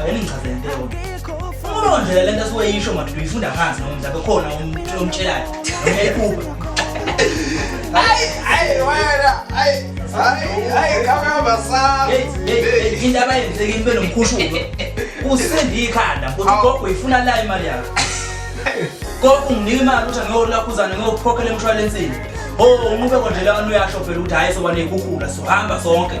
Ake ningichazele into eyodwa. Uma nje le nto esiweyisho manje uyifunda phansi noma mhlawumbe khona umuntu omtshelayo. Uyayiphupha. Hayi, hayi wena. Hayi. Hayi, hayi kamama sami. Hey, hey, into abayenzekile ibe nomkhushuko. Usindi ikhanda ukuthi gogo uyifuna la imali yakho. Gogo unginika imali ukuthi ngiyolakhuzana ngiyokukhokhela emshwalensini. Oh, unqube konje la uyasho phela ukuthi hayi soba nekhukhula sohamba sonke.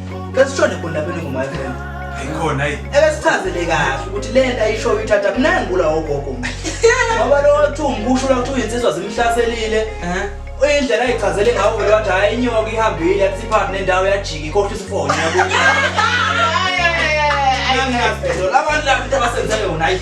Kesishone khona lapha elingu my friend. Ayikhona ayi. Ebesichazele kahle ukuthi le nto ayishoyo ithatha mina ngula ogogo. Ngoba lo wathi umbusho la ukuthi uyinsizwa zimhlaselile. Eh? Uyindlela ayichazele ngawo vele wathi hayi inyoka ihambile yathi iphathi nendawo yajika ikhohle isifonyo yakuthi. Ayayayayay. Angazi phela abantu laba into abasenze yona ayi.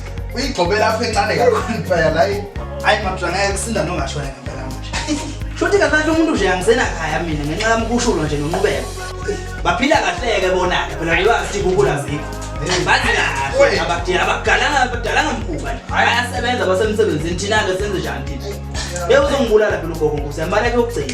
uyigxobela apho encane kakhulu mfaya la hayi mabusha ngeke kusinda nongashona ngempela manje shuthi kafanele umuntu nje angisena khaya mina ngenxa yami kushulo nje nonqubeko baphila kahleke bona-ke phela lwazi kukula zikho bathi kahle abadala abagalanga abadalanga mkhuba nje ayasebenza basemsebenzini thina-ke senze njani thina beyuzongibulala phela ugogo nkusi yambaleke yokugcina